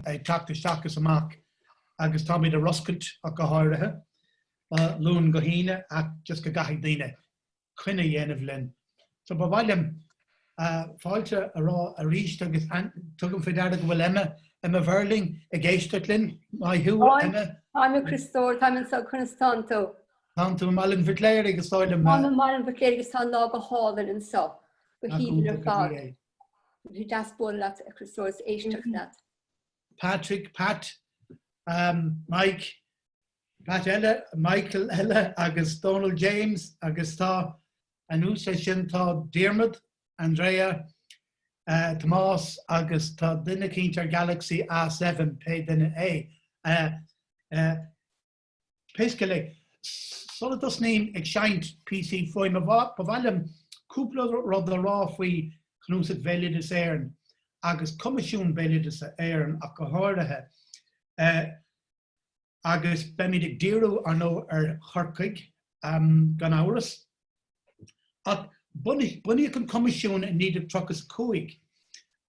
ag teacht isteach is amach agus táimid ar oscailt ach go háirithe ó Luan go hAoine ach just go gcaithfidh daoine coinne a dhéanamh linn. So ba mhaith liom fáilte a rá arís agus tugaim faoi deara go bhfuil Emma, Emma Verling, ag éisteacht linn. Maith thú Emma. Táim, a Chríostóir, táim anseo, conas tánn tú? Tánn tú i Mailin Mhic Léirigh is dóigh liom. Táim i Mailin Mhic Léirigh agus tá an lá go hálainn anseo. Go haoibhinn ar fad. Bhí sé deas bualadh leat a Chríostóir is éisteacht leat. Patrick, Pat, Mike, Pat eile, Michael eile agus Dónal James agus anuas air sin tá Diarmaid, Andrea, Tomás agus tá duine éigint ar Galaxy A7 pé duine é. Pé scéal é, sula dtosnaím ag seinnt píosaí fuaime ba mhaith liom cúpla rud a rá faoi Cnuasach Bhéaloideas Éireann agus Coimisiún Béaloideasa Éireann ach go háirithe. Agus beimid ag díriú, ar ndóigh, ar Chorcaigh, gan amhras. Ach bunaíodh an Coimisiún i 1935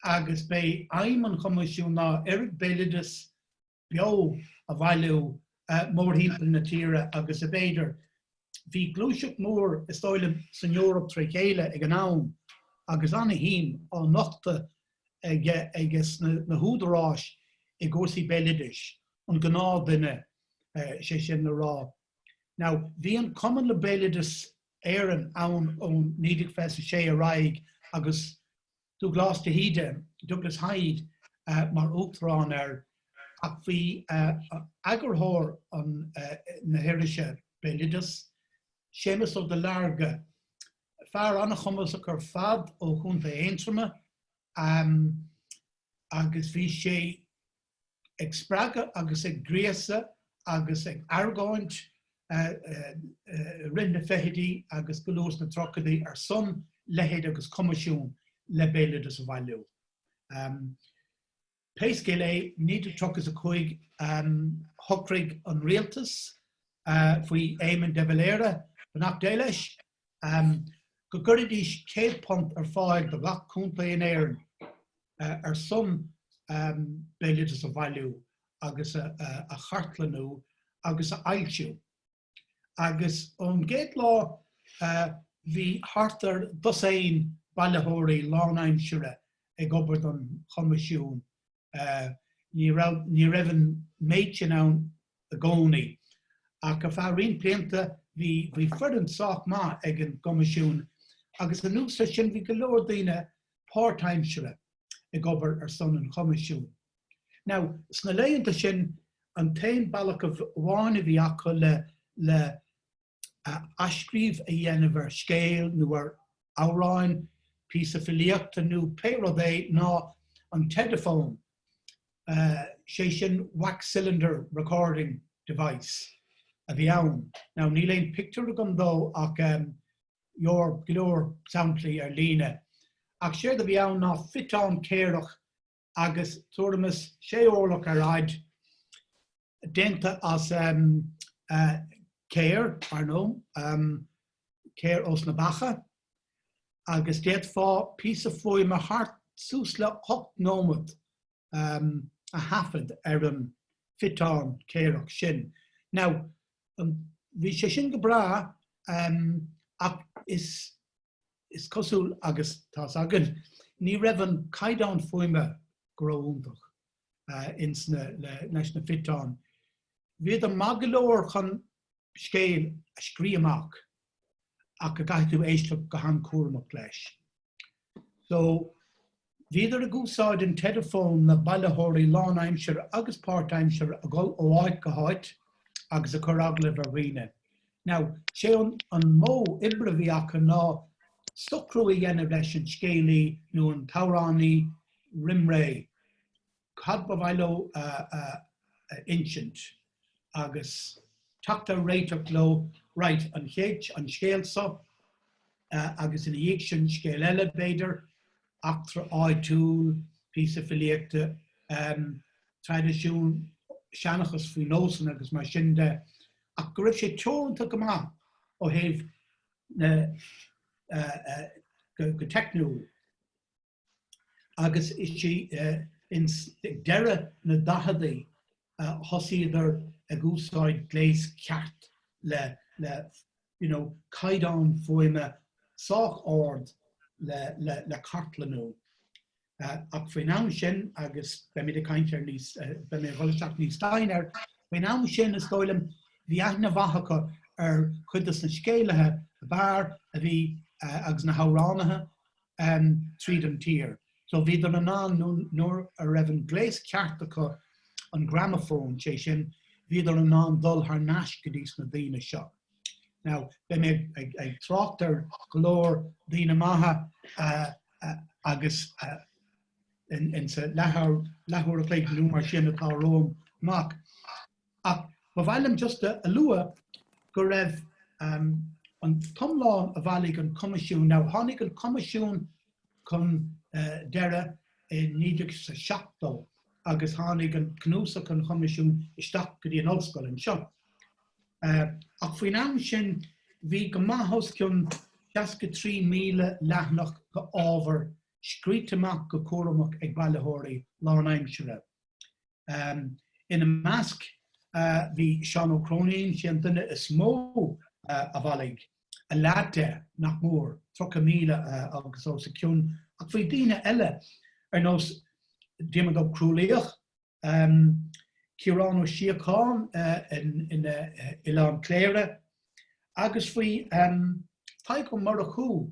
agus b'é aidhm an Choimisiúin ná oiread béaloideas beo a bhailiú mórthimpeall na tíre agus ab fhéidir. Bhí gluaiseacht mhór, is dóigh liom, san Eoraip tré chéile ag an am agus ana-shuim á nochtadh aiges na húdaráis i gcúrsaí béaloidis an ghnáthdhuine, sé sin le rá. Now, bhí an Cumann le Béaloideas Éireann ann ó 1926 ar aghaidh agus. Dubhghlas de hÍde, Douglas Hyde, mar uachtarán air ach bhí eagarthóir na hirise Béaloideas, Séamus Ó Duilearga, fear an-chumasach ar fad ó Chontae Aontroma, agus bhí sé. ag spreagadh agus ag gríosadh agus ag argóint i rith na fichidí agus go luath sna tríochaidí ar son leithéid agus coimisiún le béaloideas a bhailiú. Pé scéal é, i 1935 shocraigh an rialtas, faoi Éamon de Valera, beannacht Dé leis go gcuirfidís céad punt ar fáil do ghach contae in Éirinn ar son béaloideas a bhailiú agus a chartlannú agus a fhoilsiú. Agus ón gcéad lá bhí thart ar dosaen bailitheoirí lánaimsire ag obair don Choimisiún Ní raibh an méid sin ann i gcónaí, ach ar feadh roinnt blianta bhí foireann sách maith ag an gCoimisiún agus anuas air sin bhí go leor daoine páirtaimseartha ag obair ar son an Choimisiúin. No, sna laethanta sin, an t-aon bealach amháin a bhí acu le athscríobh a dhéanamh ar scéal nó ar amhráin, píosa filíochta nó pé rud é, ná an t-ediphone, sé sin wax cylinder recording device a bhí ann. Now níl aon pictiúr agam dó ach tá go leor, go leor samplaí ar líne. Ach séard a bhí ann ná fiteán céireach agus tuairim is sé órlach ar fhaid, déanta as céir, ar ndóigh, céir ós na beacha, agus d'fhéadfá píosa fuaime thart suas le hocht nóiméad a thaifead ar an bhfiteán céireach sin. Now, bhí sé sin go breá ach is Is cosúil agus tá's agat ní raibh an caighdeán fuaime go ró iontach ins na leis na fiteáin. Bhíodar maith go leor chun scéal a scríobh amach ach go gcaithfidh tú éisteacht go han cúramach leis. So. Bhíodar ag úsáid an ediphone na bailitheoirí lánaimseartha agus páirtaimseartha ag dul ó áit go háit agus ag cur agallaimh ar dhaoine. Now, sé an an modh oibre a bhí acu ná socrú a dhéanamh leis an scéalaí nó an t-amhránaí roimré. cad ba mhaith leo a insint agus teacht ar réiteach leo, right, an chéad, an scéal so agus ina dhiaidh sin scéal eile b'fhéidir, eachtra áitiúil, píosa filíochta, traidisiún, seanchas faoi nósanna agus mar sin de ach go raibh sé teoranta go maith ó thaobh na go teicniúil. agus is ins deireadh na daicheadaí a thosaíodar ag úsáid gléas ceart le you know caighdeán fuaime sách ard le cartlannú. Ach faoin am sin agus beidh mé ag caint ar níos beidh mé ag dhul isteach níos doimhne air, faoin am sin is dóigh liom bhí aithne mhaith acu ar chuid dos na scéalaithe ab fhearr a bhí agus na hamhránaithe tríd an tír. So bhíodar in ann nuair a bhí an gléas ceart acu, an gramafón, sé sin, bhíodar in ann dul thar n-ais go dtís na daoine seo. Now beidh mé ag trácht ar go leor daoine maithe agus in sa leathuair a chloig nó mar sin atá romham amach. Ach ba mhaith liom just a lua go raibh an t-iomlán a bhailigh an Coimisiún, now tháinig an Coimisiún chun deireadh i 1970 agus tháinig cnuasach an Choimisiúin isteach go dtí an Ollscoil anseo. Ach faoin am sin bhí go maith os cionn 63,000 leathanach de ábhar scríte amach go cúramach ag bailitheoirí lánaimsire. Ina measc bhí Seán Ó Cróinín, sé an duine is mó a bhailigh, a leath de, nach mór, 30,000 agus os a cionn, ach bhí daoine eile ar nós Diarmaid Ó Crualaoich, Ciarán Ó Síocháin in Oileán Cléire agus bhí Tadhg Ó Murchú,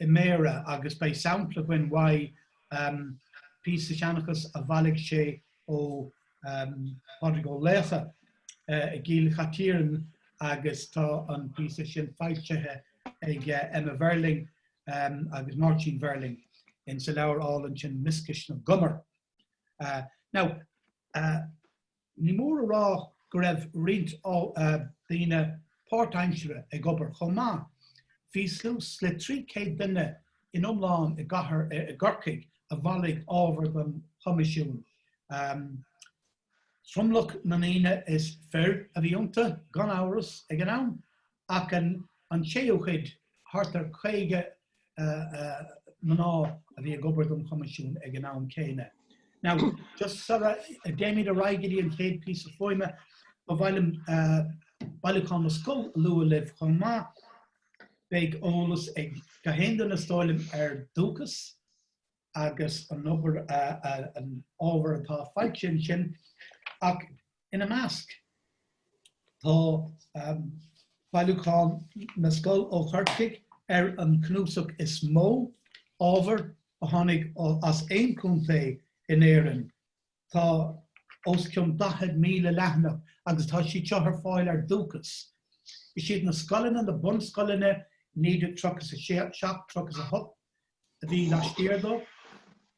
i mBéarra agus beidh sampla againn de phíosa seanchais a bhailigh sé ó Phádraig Ó Laochdha i gCill Chaitiairn agus tá an píosa sin foilsithe ag Eimear Verling agus Máirtín Verling insa leabhar álainn sin Mioscais na gCumar. Now Ní mór a rá go raibh roinnt daoine páirtaimsire ag obair chomh maith. Bhí suas le 300 duine in iomlán i gcathair Chorcaí a bhailigh ábhar don Choimisiún. Tromlach na ndaoine is fir a bhí iontu, gan amhras, ag an am. Ach an séú cuid, thart ar 50 mná a bhí ag obair don Choimisiún ag an am céanna. Now, just sara dtéimid ar aghaidh go dtí an chéad píosa fuaime, ba mhaith liom Bailiúchán na Scol a lua libh chomh maith. Beidh eolas ag gach aon duine, is dóigh liom, ar Dúchas. agus an obair, an ábhar atá fáilt ansin ach ina measc tá Bailiúchán na Scol ó Chorcaigh ar an chnuasach is mó ábhar a tháinig as aon chontae in Éirinn. Tá os cionn 40,000 leathanach agus tá siad seo ar fáil ar dúchas. Is iad na scoileanna, na bunscoileanna, 1937, 38 a bhí laistiar dó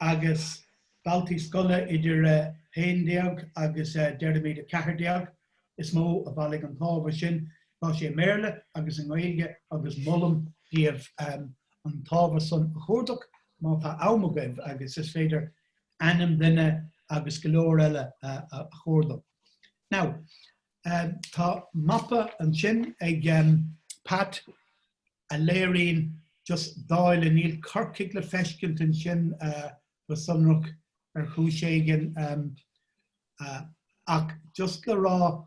agus daltaí scoile idir 11 agus déarfaimid 14 is mó a bhailigh an t-ábhar sin. Tá sé i mBéarla agus i nGaeilge agus molaim daoibh an t-ábhar san a chuardach má tá am agaibh agus is féidir ainm duine agus go leor eile a chuardach. Now, tá mapa ansin ag Pat a léiríonn just dáileadh, níl Corcaigh le feiscint ansin go sonrach ar chúis éigin ach just le rá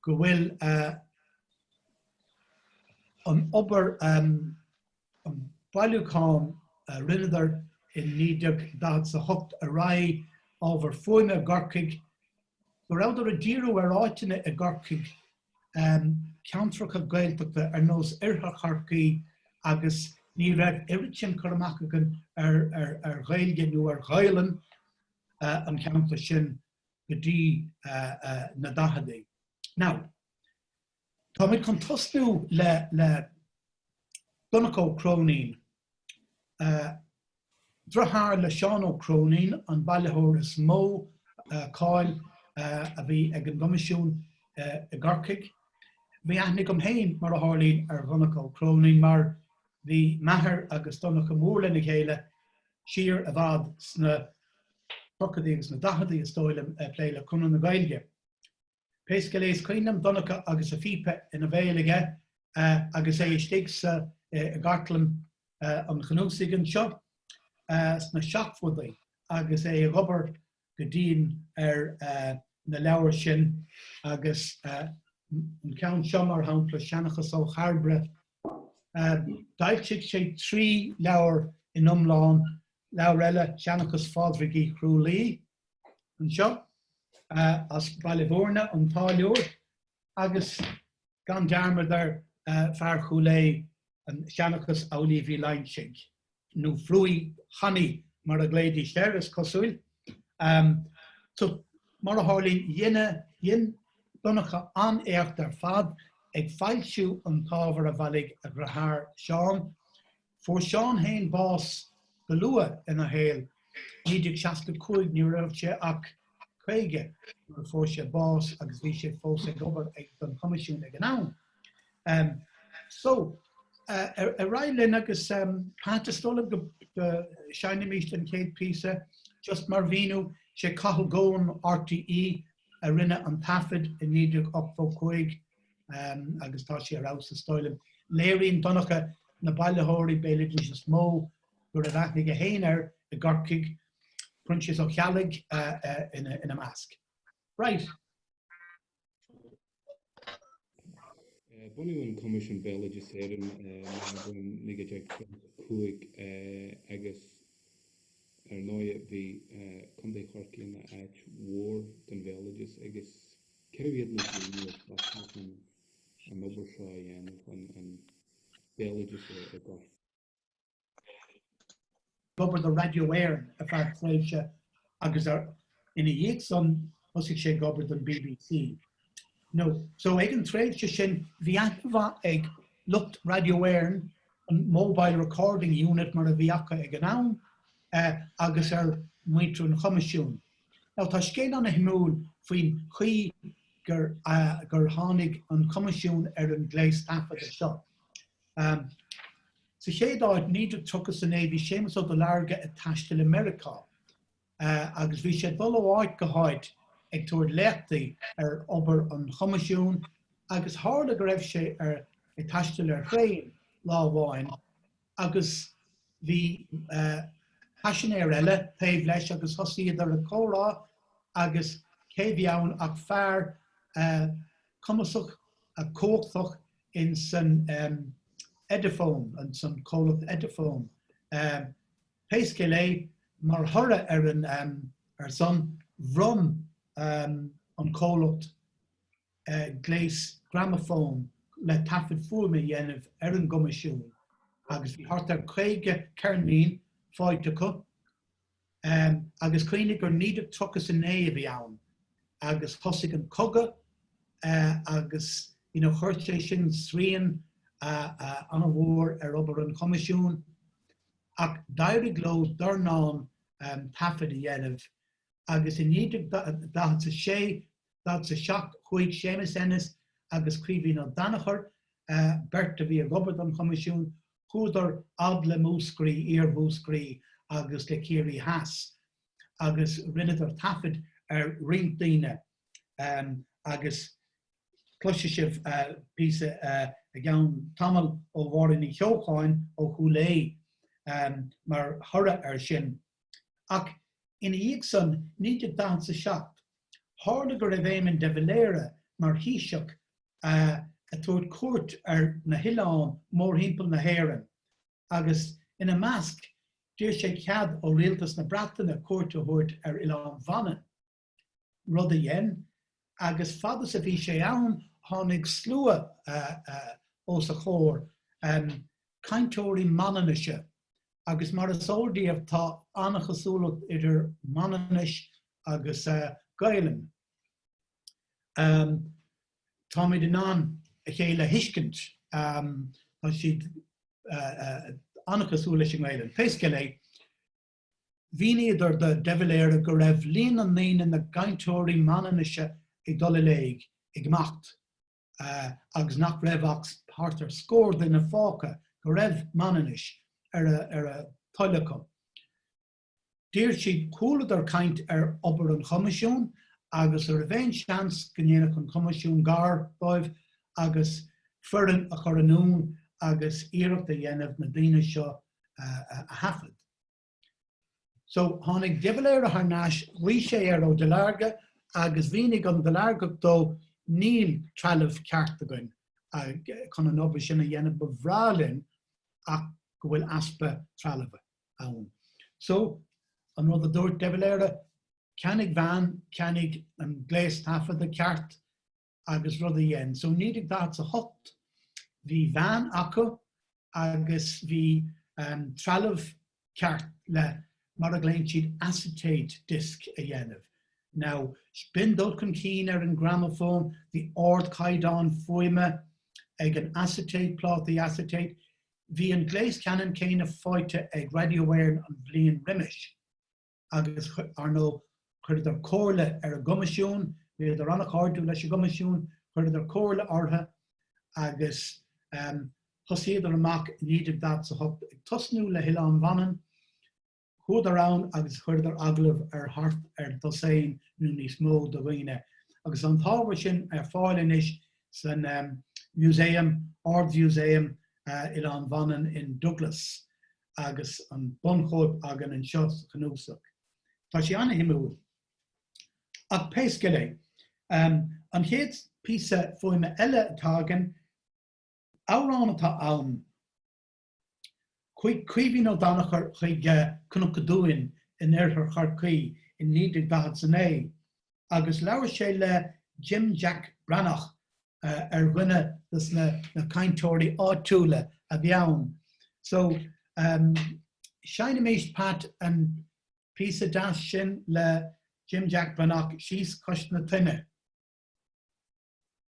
go bhfuil an obair an bailiúchán a rinneadar i 1940 a hocht ar aghaidh, ábhar fuaime i gCorcaigh, go rabhadar ag díriú ar áiteanna i gCorcaigh, ceantracha Gaeltachta ar nós Oirthear Chorcaí agus ní raibh oiread sin cur amach againn ar Ghaeilge nó ar Ghaolainn an cheantair sin go dtí na daicheadaí. Now, Táimid chun tosnú le le Donncha Ó Cróinín. Driotháir le Seán Ó Cróinín, an bailitheoir is mó cáil a bhí ag an gCoimisiún i gCorcaigh. Bhí aithne agam féin, mar a tharlaíonn, ar Dhonncha Ó Cróinín mar bhí m'athair agus Donncha mór lena chéile siar i bhfad sna tríochaidí agus na daicheadaí is dóigh liom ag plé le Conradh na Gaeilge. pé scéal é is cuimhin liom Donncha agus a phíopa ina bhéal aige agus é istigh sa gcartlann an Chnuasaigh anseo sna seachtóidí agus é ag obair go dian ar na leabhair sin agus an ceann seo mar shampla, Seanchas ó Chairbre. D'fhoilsigh sé trí leabhar in iomlán, leabhar eile, Seanchas Phádraig Uí Chrualaoi, anseo as Baile Bhúirne, an táilliúir, agus gan dearmad ar fear Chúil Aodha, Seanchas Amhlaoibh Uí Loingsigh, nó Frúí Chanaí mar a ghlaoidís air, is cosúil. So, mar a tharlaíonn, dhein Donncha an-éacht ar fad ag foilsiú an t-ábhar a bhailigh a dhriotháir Seán, Fuair Seán fhéin bás go luath ina shaol, 1965 ní raibh sé ach 50 nuair a fuair sé bás agus bhí sé fós ag obair don Choimisiún ag an am. So ar aghaidh linn agus is dóigh liom go seinnimís an chéad píosa just mar mhíniú, sé Cathal Goan RTÉ a rinne an taifead i 1985, um, agus tá sé ar fheabhas is dóigh liom. Léiríonn Donncha na bailitheoirí béaloidis is mó go raibh aithne ag éinne air i gCorcaigh, Proinsias Ó Ceallaigh uh, uh, ina, ina measc. Right. Bunaíodh an Coimisiún Béaloidis Éireann uh, 1905 uh, agus ar 9 bhí uh, Contae Chorcaí ina áit mhór don bhéaloideas agus Cérbh iad na daoine a tosnaigh chun an obair seo a dhéanamh chun an béaloideas a fhorbairt? d'obair do Radio Éireann ar feadh tréimhse agus ina dhiaidh san thosaigh sé ag obair don BBC. So ag an tréimhse sin bhí aithne mhaith ag lucht Radio Éireann an Mobile Recording Unit mar a bhí acu ag an am agus ar mhuintir an Choimisiúin. Now tá scéal ana shuimiúil faoin chaoi gur tháinig an Coimisiún ar an gléas taifeadta seo. Sa chéad áit, 1939 bhí Séamus Ó Duilearga ag taisteal i Meiriceá agus bhí sé ag dul ó áit go háit ag tabhairt léachtaí ar obair an Choimisiúin agus tharla go raibh sé ar taisteal ar thraein lá amháin agus bhí paisinéir eile taobh leis agus thosaíodar ag comhrá agus cé bhí ann ach fear cumasach cumhachtach in san Ediphone, in san comhlacht Ediphone. Pé scéal é, mar thoradh ar an ar san, bhronn an comhlacht, gléas gramafón le taifead fuaime a dhéanamh ar an gcoimisiún agus bhí thart ar 50 ceirnín faighte acu agus cuimhnigh gur 1939 a bhí ann agus thosaigh an cogadh agus you know chuir sé sin srian an-mhór ar obair an choimisiúin ach d'éirigh leo dornán taifead a dhéanamh agus i 1946 1947 chuaigh Séamas Ennis agus Caoimhín Ó Danachair, beirt a bhí ag obair don Choimisiún, chuadar fhad le Múscraí, Iar-Mhúscraí agus le Ciarraí Theas agus rinneadar taifead ar roinnt daoine agus cloisfidh sibh píosa i gceann tamaill ó Mháirín Ní Cheocháin ó Chúil Aodha mar thoradh ar sin. Ach ina dhiaidh san, 1947, Tharla go raibh Éamon de Valera mar Thaoiseach ag tabhairt cuairt ar na hoileáin mórthimpeall na hÉireann agus ina measc d'iarr sé cead ó Rialtas na Breataine cuairt a thabhairt ar Oileán Mhanann, rud a dhein agus fad is a bhí sé ann tháinig slua os a chomhair, cainteoirí Manainnise agus mar is eol daoibh tá an-chosúlacht idir Manainnis agus Gaelainn. Táimid in ann a chéile a thuiscint tá siad an-chosúil leis an nGaelainn. Pé scéal é, mhíníodar do de Valera go raibh líon na ndaoine, na gcainteoirí Manainnise ag dul i léig, ag imeacht, agus nach raibh ach thart ar scór duine fágtha go raibh Manainnis ar a dtoil acu. D'iarr siad, chualadar caint ar obair an Choimisiúin agus an raibh aon seans go ndéanfadh an Coimisiún gar dóibh agus foireann a chur anonn agus iarracht a dhéanamh na daoine seo a thaifead. So, tháinig De Valera thar n-ais, ghlaoigh sé ar Ó Duilearga agus mhínigh an Duileargach dó níl trealamh ceart againn chun an obair sin a dhéanamh, ba bhreá linn ach go bhfuil easpa trealaimh. ann. So, an rud a dúirt De Valera, ceannaigh veain, ceannaigh an gléas taifeadta ceart agus rud a dhein. So, 1948, bhí veain acu agus bhí trealamh ceart le mar a ghlaonn siad acetate disc a dhéanamh. Now, b'in dul chun cinn ar an ngramafón, bhí ardchaighdeán fuaime ag an acetate, plátaí acetate. Bhí an gléas ceanann céanna fáighte ag Radio Éireann an bhliain roimis agus, ar ndóigh, chuireadar comhairle ar an gCoimisiún, bhíodar an-cháirdiúil leis an gCoimisiún, chuireadar comhairle orthu agus thosaíodar amach i 1948 ag tosnú le hOileán Mhanann. Chuadar ann agus chuireadar agallamh ar thart ar dosaen nó níos mó de dhaoine agus tá an t-ábhar sin ar fáil anois san Museum, Ard-Mhúsaem Oileán Mhanann in Douglas agus an bunchóip againn anseo sa Chnuasach. Tá sé an-suimiúil. Ach pé scéal é, an chéad píosa fuaime eile atá againn, amhrán atá ann, Chuaigh Caoimhín Ó Danachair chuig Cnoc a' Dúin in oirthear Chorcaí i 1949 agus labhair sé le Jim Jack Breathnach ar dhuine dos na cainteoirí áitiúla a bhí ann. So seinimís Pat an píosa deas sin le Jim Jack Breathnach síos cois na toinne.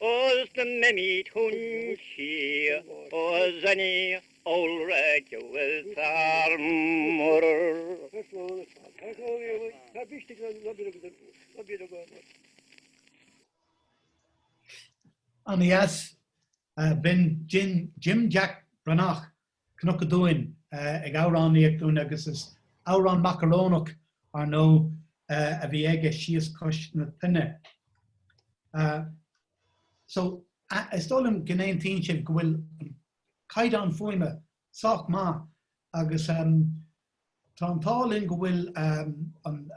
Ós na mbeimid chun siar Oz an iol raic a bhfuil fear mor. Anois, b'in Jim Jack Breathnach Cnoc a' Dúin, ag amhránaíocht dúinn agus is amhrán macarónach, ar ndóigh, a bhí aige, Síos Cois na Toinne. So, is dóigh liom go n-aontaíonn sibh go bhfuil an caighdeán fuaime sách maith agus. Tá an t-ádh linn go bhfuil an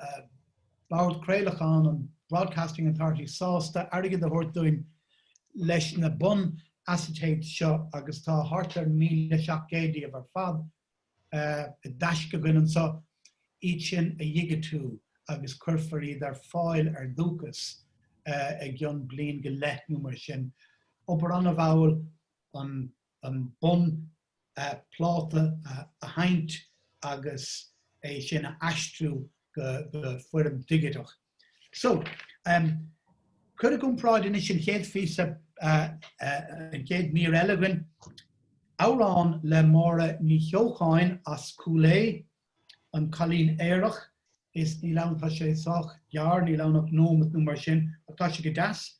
Bord Craolacháin, an Broadcasting Authority, sásta airgead a thabhairt dúinn leis na bun asaitéid seo agus tá thart ar 1,700 díobh ar fad i dtaisce againn anseo, iad sin a dhigitiú agus cuirfear iad ar fáil ar Dúchas i gcionn bliain go leith nó mar sin. Obair an-mhall an an bun pláta a sheinnt agus é sin a aistriú go foirm digiteach. So, cuir i gcomparáid anois an chéad phíosa, an chéad mír eile againn, amhrán le Máire Ní Cheocháin as Cúil Aodha, An Cailín Aerach, níl ann, tá sé sách gearr, níl ann ach nóimeat nó mar sin, ach tá sé go deas.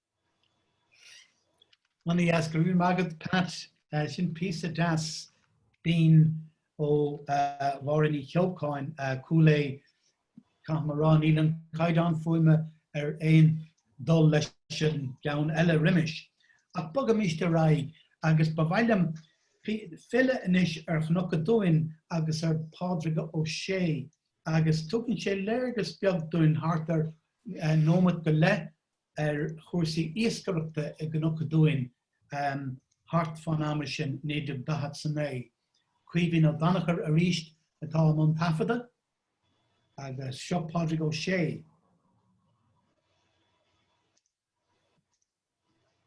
Anois go raibh maith agat Pat. Sin píosa deas binn ó Mháire Ní Cheocháin, Cúil Aodha. Caithfidh mé a rá níl an caighdeán fuaime ar aon dul leis an gceann eile roimis. Ach bogaimis ar aghaidh agus ba mhaith liom filleadh anois ar Chnoc a' Dúin agus ar Phádraig Ó Sé agus tugann sé léargas beag dúinn thart ar nóimeat go leith ar chúrsaí iascaireachta i gCnoc a' Dúin thart fán ama sin, 1949. Caoimhín Ó Danachair arís atá i mbun taifeadadh agus seo Pádraig Ó Sé.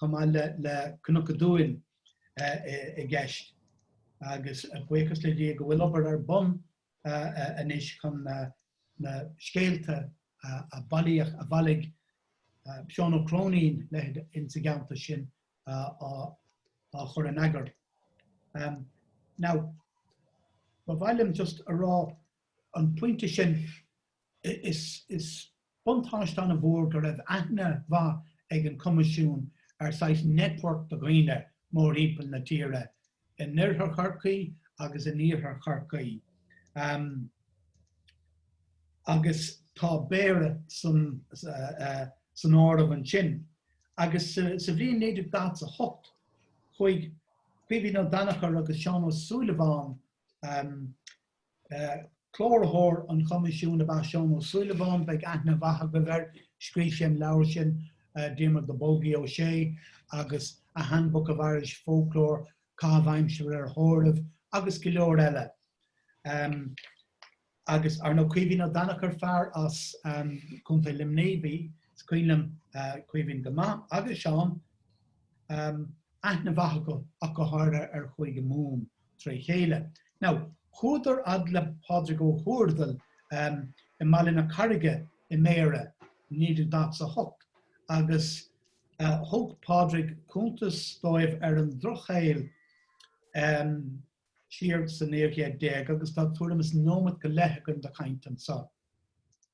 chomh maith le Cnoc a' Dúin i gceist agus buíochas le Dia go bhfuil obair ar bun anois chun na scéalta a bailíodh, a bhailigh Seán Ó Cróinín leithéid insa gceantar sin á chur in eagar. Now, ba mhaith liom just a rá an pointe sin, Is buntáiste an-mhór go raibh aithne mhaith ag an Coimisiún ar saghas network de dhaoine mórthimpeall na tíre, in oirthear Chorcaí agus in iarthar Chorcaí, agus tá Béarra san áireamh ansin. Agus sa bhliain 1948, chuaigh Caoimhín Ó Danachair agus Seán Ó Súilleabháin Cláraitheoir an Choimisiúin ab ea Seán Ó Súilleabháin, beidh aithne mhaith agaibh air, scríobh sé an leabhar sin, Diarmaid na Bolgaí Ó Sé, agus A Handbook of Irish Folklore, Caitheamh Aimsire ar Thórraimh, agus go leor eile. Agus, ar ndóigh, Caoimhín Ó Danachair, fear as Contae Luimnigh, bhí, is cuimhin liom Caoimhín go maith, agus Seán, aithne mhaith acu ach go háirithe ar Chúige Mumhan. tré chéile. Now, chuadar fhad le Pádraig Ó hÚrdail i mBaile na Carraige i mBéarra i 1948 agus thug Pádraig cúntas dóibh ar an drochshaol siar sa naoú chéad déag agus tá tuairim is nóimeat go leith againn do chaint anso.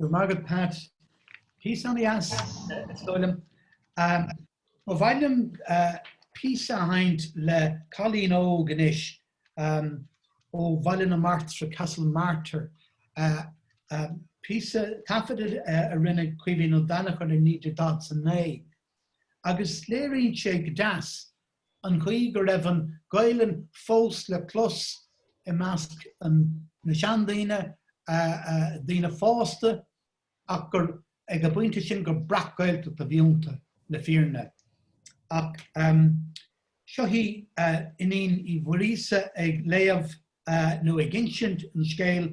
Go raibh maith agat Pat. Píosa an-deas is dóigh liom. Ba mhaith liom píosa a sheinnt le cailín óg anois ó Bhaile na Martra, Castle Martyr. Píosa taifeadta a rinne Caoimhín Ó Danachair i 1949. Agus léiríonn sé go deas an chaoi go raibh an Ghaelainn fós le clos i measc na seandaoine, daoine fásta, ach gur ag an bpointe sin gur breac-Ghaeltacht a bhí iontu, le fírinne. Ach seo í Iníon Uí Mhuiríosa ag léamh nó ag insint an scéil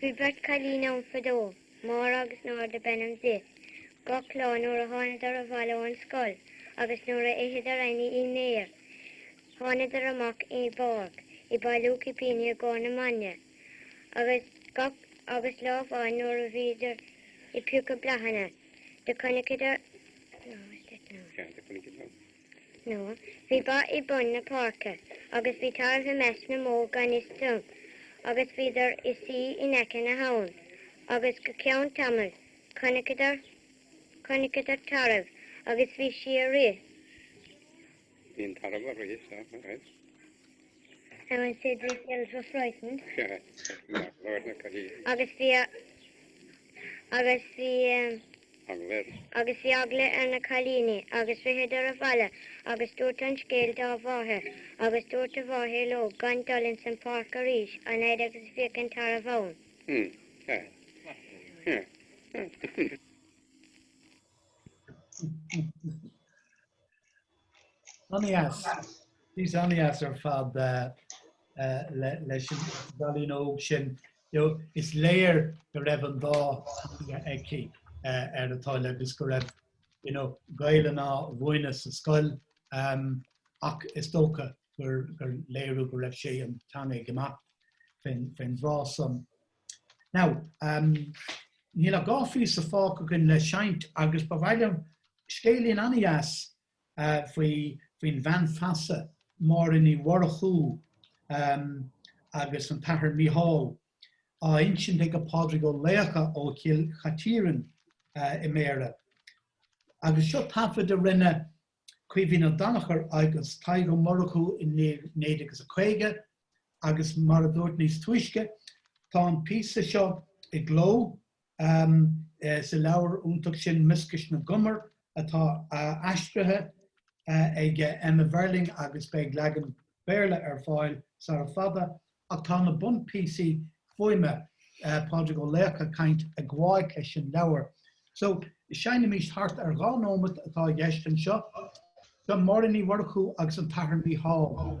Bhí beirt cailín ann fadó, Máire agus Nora do b'ainm di. Gach lá nuair a thángadar abhaile ó'n scoil agus nuair a itheadar a ndinnéar, thángadar amach i bpáirc ag bailiú cipíní i gcóir na maidne agus gach agus lá amháin nuair a bhíodar ag piocadh bláthanna do conaiceadar Nora. nó bhí ba i bun na páirce agus bhí tarbh i measc na mbó gan fhios dóibh, agus bhíodar ag suí in aice na habhann, agus go ceann tamaill chonaiceadar, chonaiceadar tarbh agus bhí sí ag rith. Bhí an tarbh ag rith, seo, ag rith. I went to the field for frightened. agus bhí agus bhí agus bhí eagla ar na cailíní agus ritheadar abhaile agus dúirt an scéal dá mháthair agus dúirt a mháthair leo gan dul ins an páirc arís an fhaid agus bhíodh an tarbh ann. Ana-dheas. Píosa ana-dheas ar fad leis an gcailín óg sin. Is léir go raibh an dá theanga aici ar a toil agus go raibh Gaelainn á mhúineadh sa scoil ach is dócha gur léiriú go raibh sí an teanga ag imeacht fén dtráth san. Now um níl ach dhá phíosa fágtha againn le seinnt agus ba mhaith liom scéilín an-dheas uh faoi faoin bhean feasa Máire Ní Mhurchú um agus an tAthair Mícheál á insint ag a Pádraig Ó Laocha ó Chill Chaitiairn uh i mBéarra. Agus seo taifead a rinne Caoimhín Ó Danachair agus Tadhg Ó Murchú i 1950 agus mar a dúirt níos túisce tá an píosa seo i gcló sa leabhar iontach sin Mioscais na gCumar atá aistrithe ag Emma Verling agus beidh leagan Béarla ar fáil sara fada Ach tá na bunphíosaí fuaime, Pádraig Ó Laochdha ag caint ag gabháilt leis an leabhar. So, seinnimís thart ar dhá nóimeat atá i gceist anseo. Seo Máire Ní Mhurchú agus an tAthair Mícheál.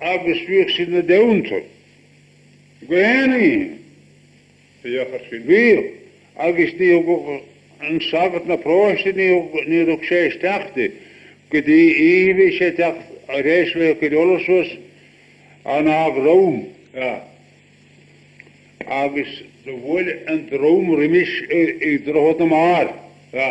agus bhíodh sí na deunta go aon ní a dheachair sí gaoth agus ní thugadh an sagart na próiste níor thug sé isteach di go dtí oíche bhí sé ag teacht tar éis bheith ag cur ola suas in Dhá Dhrom a agus do bhuail an dream roimis ag Droichead na mBarr a.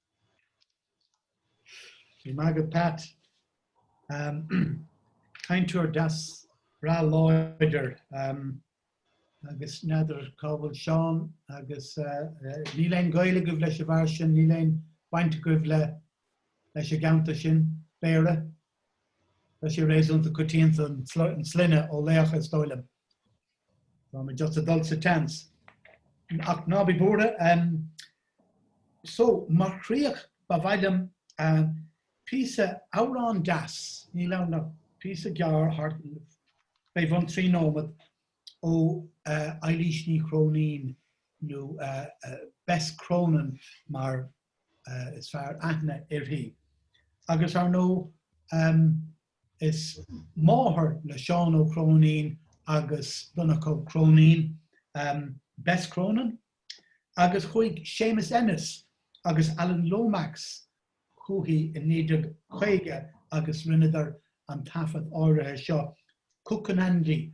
Go raibh maith agat Pat. Cainteoir deas, breá láidir agus n'fheadar cá bhfuil Seán agus níl aon gaol agaibh leis a bhfear sin, níl aon bhaint agaibh leis an gceantar sin, Béarra. Tá sé réasúnta coitianta an sloinne Ó Laoch is dóigh liom. Táim just ag dul sa tseans. Ach ná bí buartha. So mar chríoch ba mhaith liom píosa amhrán deas, níl ann ach píosa gearr thart fé bhun trí nóiméad ó Eilís Ní Chróinín nó Bess Cronin mar is fearr aithne uirthi. Agus ar ndóigh Is máthair le Seán Ó Cróinín agus Donncha Ó Cróinín Bess Cronin agus chuaigh Séamus Ennis agus Alan Lomax chuici i 1950 agus rinneadar an taifead áirithe seo, Cuccanandy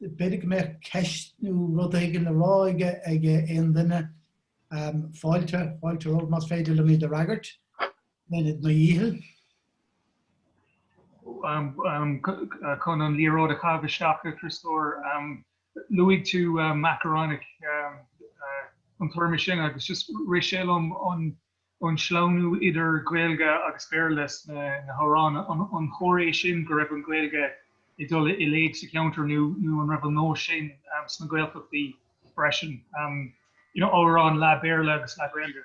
b'fhéidir go mbeadh ceist nó rud éigin le rá aige ag aon duine. Fáilte, fáilte romhaibh más féidir liom iad a fhreagairt. Bennett Mo dhícheall. Chun an liathróid a chaitheamh isteach, a Chríostóir, luaigh tú macarónach, an téarma sin, agus just rith sé liom an an sleamhnú idir Gaeilge agus Béarla sna hamhráin, an toisc é sin go raibh an Ghaeilge ag dul i léig sa cheantar nó an raibh an nós sin sna Gaeltachtaí freisin, you know amhráin leath Béarla agus leath Gaeilge?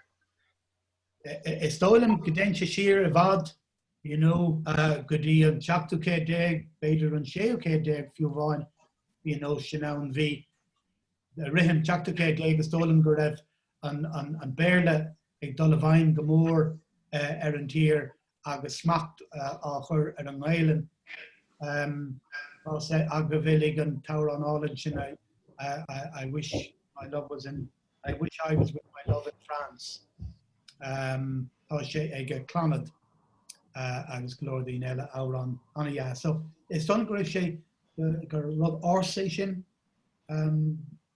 Is dóigh liom go dtéann sé siar i bhfad you know go dtí an tseachtú céad déag, b'fhéidir an séú céad déag fiú amháin, bhí an nós sin ann. Bhí, i rith an tseachtú céad déag is dóigh liom go raibh, an Béarla ag dul i bhfeidhm go mór ar an tír agus smacht á chur ar an nGaelainn. Tá sé agaibh uilig an t-amhrán álainn sin I wish my love was in I wish I was with my love in France. Tá sé ag Clannad agus go leor daoine eile, amhrán an-dheas. Is dóigh liom go raibh sé, gur rud ársa é sin.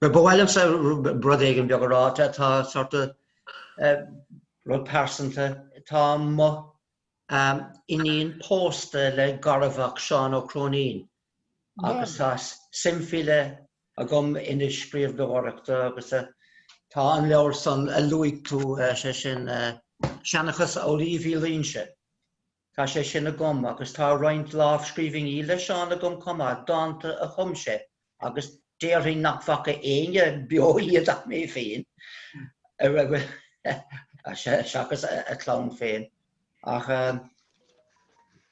Ba mhaith liomsa rud éigin beag a rá atá sort of rud pearsanta. Tá mo iníon pósta le garmhac Sheáin Ó Cróinín agus tá suim faoi leith agam ina scríbhneoireacht agus tá an leabhar san a luaigh tú, sé sin Seanchas Amhlaoibh Uí Luínse. Tá sé sin agam agus tá roinnt lámhscríbhinní le Seán agam chomh maith, dánta a chum sé agus déarfainn nach bhfaca éinne beo iad ach mé féin, seachas a chlann féin. Ach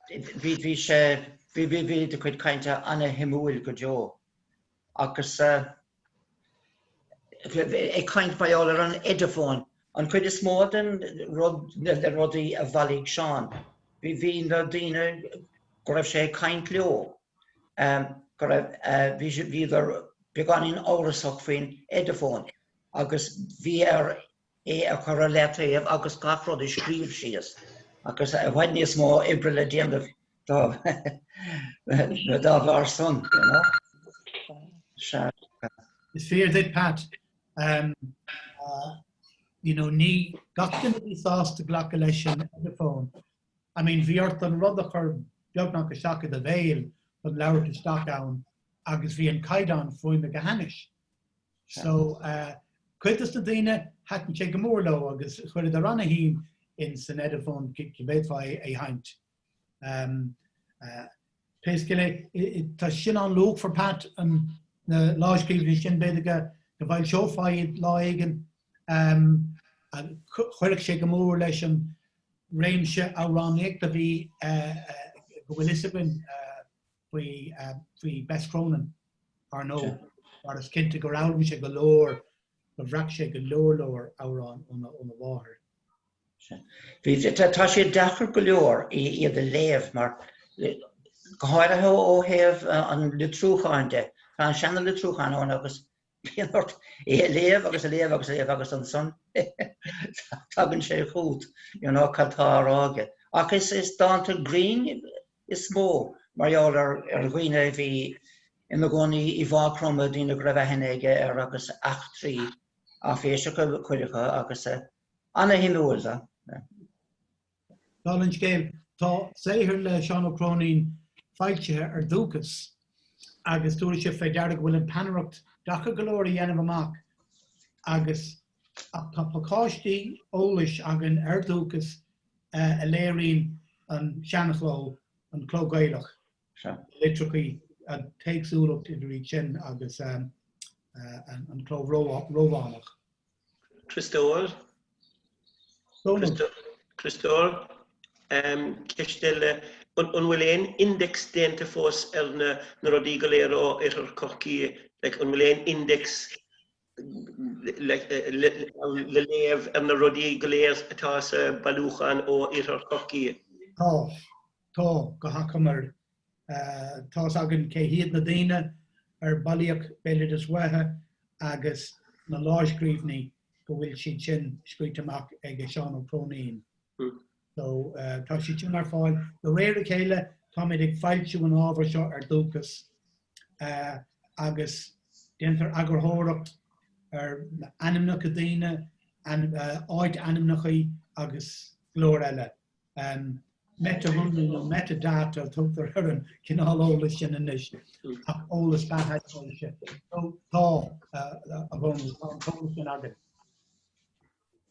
bhí sé, bhí a chuid cainte ana-shuimiúil go deo. Agus ag caint mar gheall ar an ediphone. An chuid is mó den rudaí a bhailigh Seán, bhí na daoine go raibh sé ag caint leo, go raibh, bhíodar beagáinín amhrasach faoin ediphone agus bhí air é a chur i leataobh agus gach rud a scríobh síos agus i bhfad níos mó oibre le déanamh dá bharr san, you know. Sea. Is fíor duit Pat. You know, ní gach duine a bhí sásta glacadh leis an Ediphone. I mean, bhí ort an rud a chur beagnach isteach i do bhéal chun labhairt isteach ann agus bhí an caighdeán fuaime go hainnis. So cuid dos na daoine thaitin sé go mór leo agus chuireadar an-shuim insan Ediphone go bhféadfá é a sheinnt. Pé scéal é, tá sin an-luachmhar Pat na lámhscríbhinní sin b'fhéidir go bhfoilseofá iad lá éigin. Chuirfeadh sé go mór leis an réimse amhránaíochta a bhí go bhfuil fhios againn faoi Bess Cronin, ar ndóigh, mar is cinnte gur fhoghlaim sé go leor, gur bhreac sé go leor leor amhrán óna mháthair. Tá sé deacair go leor iad a léamh mar, go háirithe ó thaobh an litriúcháin de, tá an seana-litriúchán ann agus Bíonn ort é a léamh agus a léamh agus a léamh agus ansan tagann sé chugat you know cad tá á rá aige. Ach is dánta grinn is mó mar gheall ar dhaoine a bhí ina gcónaí i Maigh Chromtha, daoine go raibh aithne aige air agus eachtraí áiféiseacha cuid acu agus ana-shuimiúil go deo. Dála an scéil, tá saothar le Seán Ó Cróinín foilsithe ar Dhúchas agus tabharfaidh sibh fé deara go bhfuil an peannaireacht deacair go leor a dhéanamh amach agus ach tá pacáistí eolais againn ar Dhúchas a léiríonn an seanchló, an cló Gaelach. Sea. litreacha tá éagsúlacht idir iad sin agus an cló Rómhánach. Críostóir. Dónall. Críostóir, ceist eile, an bhfuil aon index déanta fós ar na rudaí go léir ó Oirthear Chorcaí, like, an bhfuil aon index le léamh ar na rudaí go léir atá sa bhailiúchán ó Oirthear Chorcaí? Tá. Tá, go hachomair, tá a fhios againn cé hiad na daoine ar bailíodh béaloideas uatha agus na láimhscríbhinní go bhfuil siad sin scríte amach ag Seán Ó Cróinín. So, tá siad sin ar fáil. De réir a chéile, táimid ag foilsiú an ábhair seo ar Dúchas agus déantar eagarthóireacht ar ainmneacha daoine, áitainmneachaí agus go leor eile. Meiteashonraí nó metadata a tugtar ar an cineál eolais sin anois, ach eolas beathaisnéise. Tá a bhunús, tá an t-eolas sin againn.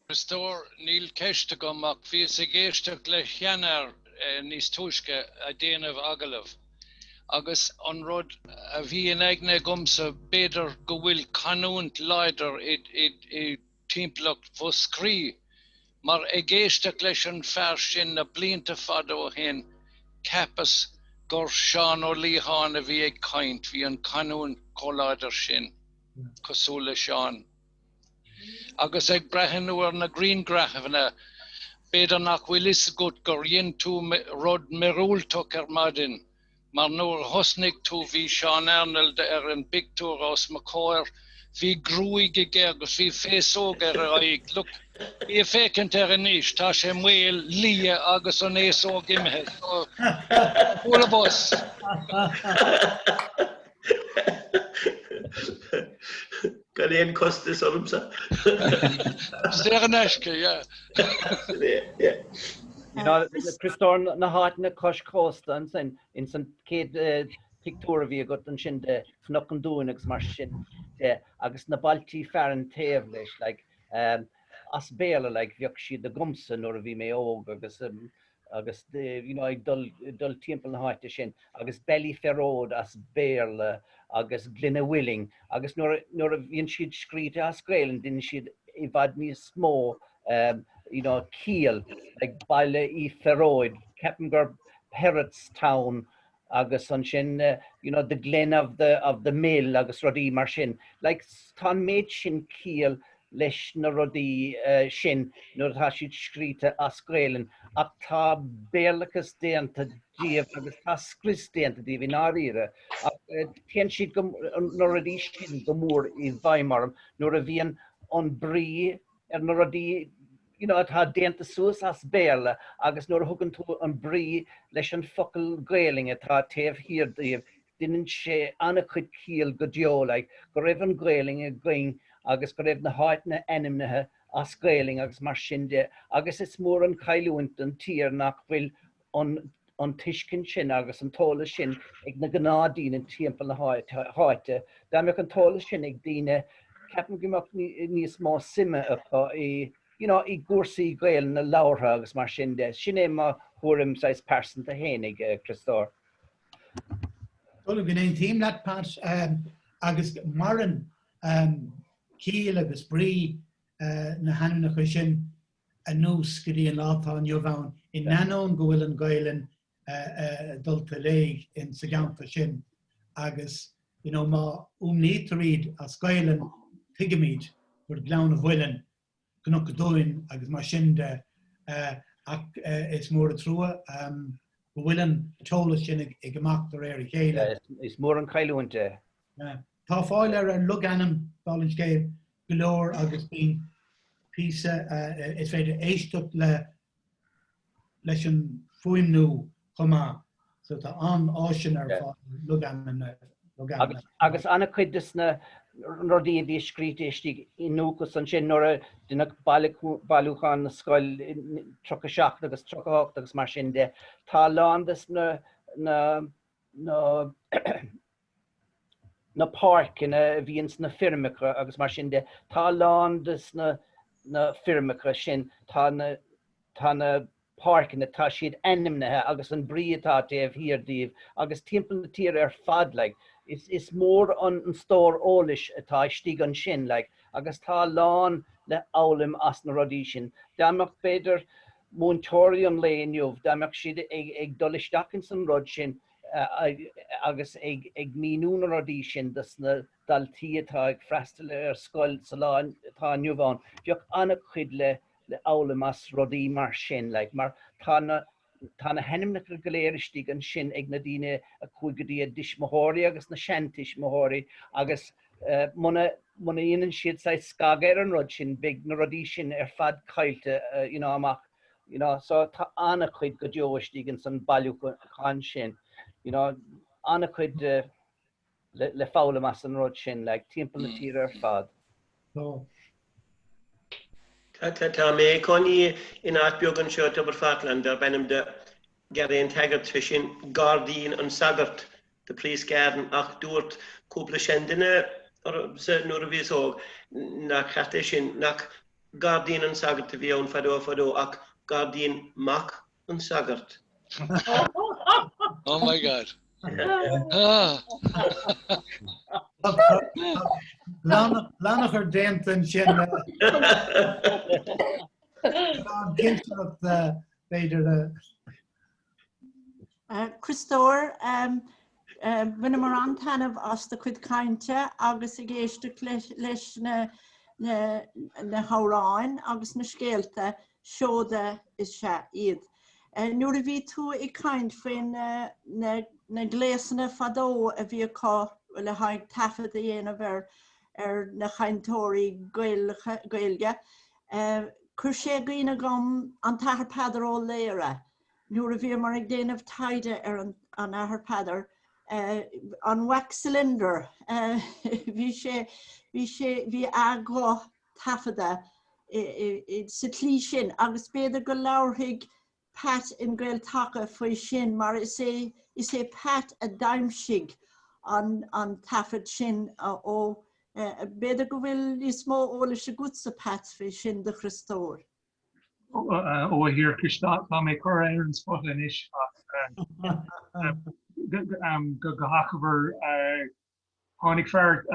Críostóir, níl ceist agam ach bhíos ag éisteacht leis an seanfhear níos túisce a' déanamh agallamh agus an rud a bhí in aigne agamsa b'fhéidir go bhfuil canúint láidir i timpeallacht Mhúscraí, mar ag éisteacht leis an fear sin na blianta fada ó shin, cheapas gur Seán Ó Liatháin a bhí ag caint, bhí an chanúint chomh láidir sin, cosúil le Seán. Agus ag breathnú ar na griangraifeanna, b'fhéidir nach bhfuil 'fhios agat gur dhein tú rud miorúilteach ar maidin. Mar nuair a thosnaigh tú bhí Seán Arnold ar an bpictiúr os mo chomhair. Bhí gruaig aige agus bhí féasóg ar a aghaidh. Look, bí ag féachaint air anois, tá sé maol, liath agus an fhéasóg imithe. So, all of us. Gan aon costas ormsa. Is é in aisce, yeah. You know, Críostóir na háiteanna cois cósta ansin, ins an céad pictiúr a bhí agat ansin de Chnoc an Dúin agus mar sin de, agus na bailtí fearainn taobh leis, like, as Béarla like, bheadh siad agamsa nuair a bhí mé óg agus agus ag dul timpeall na háite sin agus Ballyferode as Béarla agus Glenawilling agus nuair a bhíonn siad scríte as Gaelainn deineann siad i bhfad níos mó you know ciall like Baile an Phearóid ceapaim gur Perrottstown agus ansin you know the glen of the of the mill agus rudaí mar sin. Like tá an méid sin ciall leis na rudaí sin nuair atá siad scríte as Gaelainn ach tá béarlachas déanta díobh agus tá scrios déanta díobh i ndáiríre ach téann siad go na rudaí sin go mór i bhfeidhm orm nuair a bhíonn an brí ar na rudaí you know, atá déanta suas as Béarla agus nuair a thugann tú an brí leis an focal Gaelainn atá taobh thiar díobh deineann sé an-chuid ciall go deo like go raibh an Gaelainn againn agus go raibh na háiteanna ainmnithe as Gaelainn agus mar sin de agus is mór an chailliúint don tír nach bhfuil an tuiscint sin agus an t-eolas sin ag na gnáthdaoine timpeall na háite. Dá mbeadh an t-eolas sin ag daoine, ceapaim go mbeadh níos mó suime acu i, you know, i gcúrsaí Gaelainne labhartha agus mar sin de. Sin é mo thuairim, saghas pearsanta féinig, a Chríostóir. Go n-aontaím leat, Pat, agus maireann ciall agus brí na hainmneacha sin. anuas go dtí an lá atá inniu ann, in ainneoin go bhfuil an Ghaelainn dulta i léig sa gceantar sin. Agus you know má fhuaimnítear iad as Gaelainn, tuigimid gur Gleann an Mhuilinn, Cnoc an Dúin agus mar sin de. Ach is mór an trua go bhfuil an t-eolas sin ag imeacht de réir a chéile. Is mór an chailliúint é. Tá fáil ar an logainm, bhuel, an scéal go leor agus bíonn píosa is féidir éisteacht leis an fuaimniú chomh maith so tá an-áiseanna ar fáil ar logainm na logainm. Agus an-chuid de na rudaí a bhí scríte istigh i ndúchas ansin nuair a deineadh bailiúchán na scoil i 37 agus 38 agus mar sin de. Tá a lán des na na páirceanna a bhí ins na feirmeacha agus mar sin de. Tá a lán des na feirmeacha sin, tá na, tá na páirceanna, tá siad ainmnithe agus an brí atá taobh thiar díobh agus timpeall na tíre ar fad like. Is, is mór an stór eolais atá istigh ansin like agus tá a lán le fhoghlaim as na rudaí sin. Dá mbeadh b'fhéidir múinteoirí an lae inniu, dá mbeadh siad ag, ag dul isteach ins an rud sin, agus ag míniú na rudaí sin dos na daltaí atá ag freastal ar an scoil sa lá atá inniu ann. Bheadh an-chuid le fhoghlaim as rudaí mar sin like. Mar tá na tá na hainmneacha go léir istigh ansin ag na daoine a chuaigh go dtí a dtuismitheoirí agus na seantuismitheoirí agus muna muna dhéanann siad saghas scagadh ar an rud sin beidh na rudaí sin ar fad caillte you know amach You know, so tá an-chuid go deo istigh ins an bailiúchán sin, you know, an-chuid le foghlaim as an rud sin, like, timpeall na tíre ar fad. Tá. Tá mé i mo chónaí in áit beag anseo, Tobar Pharthaláin, darb ainm dó Garryantaggart, sé sin Gairdín an Sagairt, The priest's garden ach dúirt cúpla seanduine liomsa nuair a bhíos óg nach ceart é sin, nach gairdín an sagart a bhí ann fadó fadó ach gairdín mac an tsagairt. Oh my God. Lánachar déanta ansin le cinnteacht b'fhéidir le Criostóir, bhain mé an-taitneamh as do chuid cainte agus ag éisteacht leis na hamhráin agus na scéalta, seoda is ea iad. Nuair a bhí tú ag caint faoi na gléasanna fadó a bhí acu le haghaidh taifead a dhéanamh ar na cainteoirí Gaeilge, Chuir sé i gcuimhne dhom an tAthair Peadar Ó Laoghaire. Nuair a bhíomar ag déanamh taighde ar an Athair Peadar, an wax cylinder, bhí sé, bhí sé, bhí a ghuth taifeadta sa tslí sin agus b'fhéidir go labharfaidh Pat in Gael-Taca faoi sin mar is é is é Pat a d'aimsigh an an taifead sin ó B'fhéidir go bhfuil níos mó eolais agatsa Pat faoi sin do Chriostóir? Ó a Thiarcais tá mé curtha ar an spota anois ach go go go hachomair Tháinig fear,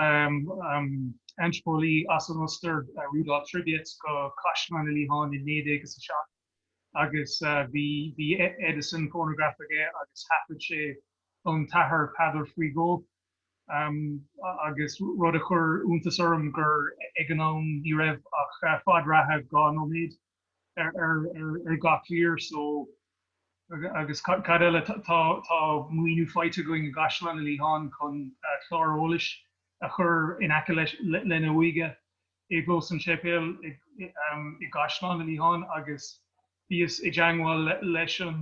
antraipeolaí, as an Ostair, Rudolf Trebitsch, go Caisleán Ó Liatháin i 1907 agus bhí Edison fónagraf aige agus thaifead sé an tAthair Peadar faoi dhó. Agus rud a chuir iontas orm gur ag an am ní raibh ach fad reatha dhá nóiméad. ar gach mír so agus cad eile tá maoiniú faighte againn i gCaisleán Ó Liatháin chun clár eolais a chur in aice lena uaigh i gclós an tseipéil i gCaisleán Ó Liatháin agus bhíos i dteagmháil leis an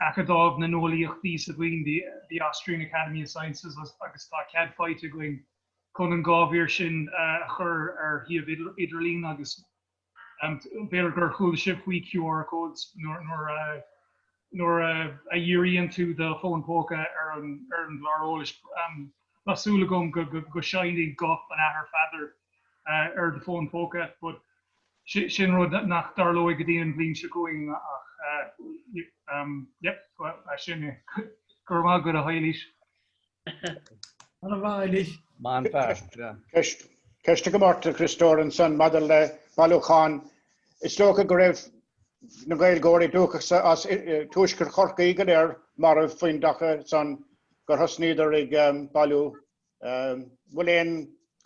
Acadamh na nEolaíochtaí sa Vín the the Austrian Academy of Sciences agus tá cead faighte againn chun an dhá mhír sin a chur ar shuíomh idirlín agus b'fhéidir gur chuala sibh faoi QR codes nuair a nuair a dhíríonn tú do fhón póca ar an ar an gclár eolais. Tá súil agam go seinní guth an Athar Pheadair ar do fón phóca but sin rud nach dtarlóidh go dtí an bhliain seo chugainn ach yep ba sin é. Go raibh maith agat, a Eilís. Maith an fear. Ceist ó Martin Ó Criostóir ansan maidir le bailiúchán. Is dócha go raibh na Gaeilgeoirí dúchasacha as Tuaisceart Chorcaí go léir marbh faoin dtaca san gur thosnaíodar ag bailiú an bhfuil aon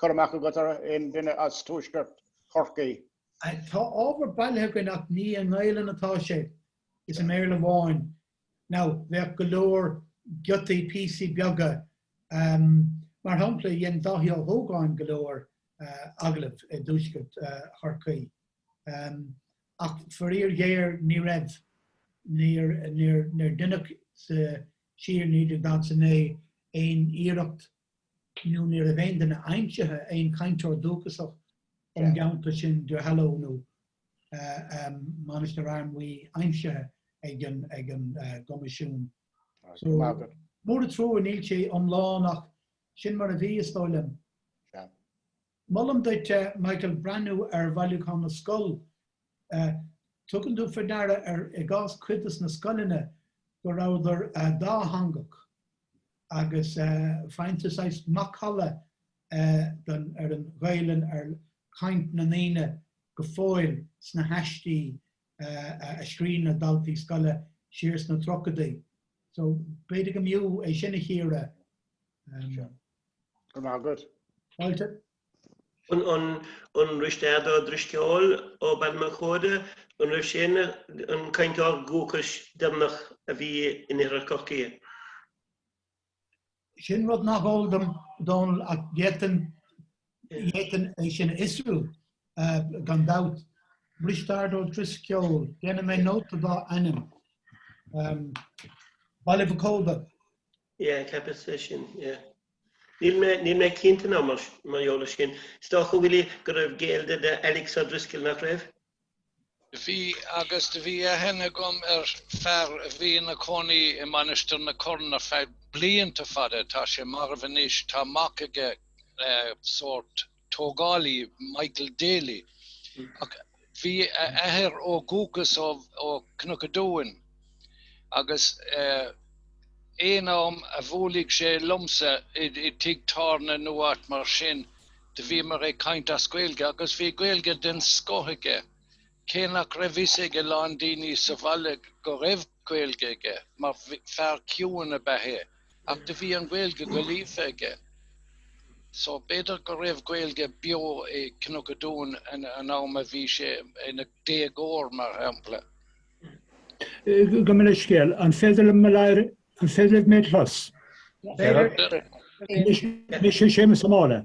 cur amach agat ar aon duine as Tuaisceart Chorcaí? Tá ábhar bailithe againn ach ní i nGaelainn atá sé, is i mBéarla amháin. Now, bheadh go leor giotaí, píosaí beaga, ahem, mar shampla, dhein Dáithí Ó hÓgáin go leor agallamh i dtuaisceart Chorcaí, ahem, ach faraor ghéar ní raibh, níor, níor, níor deineadh sa, siar in 1939 aon iarracht nó ní raibh aon duine aimsithe, aon cainteoir dúchasach ón gceantar sin, Duhallow nó Mainistir Fhear Maí aimsithe ag an gCoimisiún. So mór an trua, níl sé iomlán ach sin mar a bhí, is dóigh liom. Molaim duit, a Michael, breathnú ar Bhailiúchán na Scol. Tugann tú faoi deara ar, i gcás cuid de na scoileanna, go rabhadar dátheangach agus faigheann tú saghas macalla ar an Ghaelainn, ar chaint na ndaoine go fóill sna haistí a scrígh na daltaí scoile siar sna tríochaidí. So, b'fhéidir go mb'fhiú é sin a chíoradh. An Risteard Ó Drisceoil ó Baile Mhac Óda, an raibh sé ina cainteoir dúchais deireanach a bhí in oirthear Chorcaí? Sin rud nach eol dom Donal ach d'fhéadfainn d'fhéadfainn é sin a fhiosrú eh, gan dabht. Risteard Ó Drisceoil, déanfaidh mé nóta dá ainm. Um, Baile Mhac Óda, Yeah, ceapas é sin, yeah. Níl mé, níl mé cinnte ná mar gheall air sin. Is dócha go bhfuil go raibh gaol de Alice O'Driscoll nach raibh? Bhí agus bhí aithne agam ar fear a bhí ina cónaí i Mainistir na Corann ar feadh blianta fada, tá sé marbh anois, tá mac aige sórt, tógálaí Michael Daly ach bhí a athair ó dhúchas ó Cnoc an Dúin agus aon am a bhuaileadh sé liomsa i dtigh tábhairne nó áit mar sin do bhíomar ag caint as Gaeilge agus bhí Gaeilge den scoth aige. Cé nach raibh fhios ag a lán daoine sa bhaile go raibh Gaeilge aige, mar fear ciúin ab ea é, ach do bhí an Ghaeilge go líofa aige. So b'fhéidir go raibh Gaeilge beo i gCnoc an Dúin an am a bhí sé ina déagóir, mar shampla. Gabh mo leithscéal, an féidir liom mo lear, an féidir libh mé clos? B'fhéidir. Mise Séamus Ó Máille.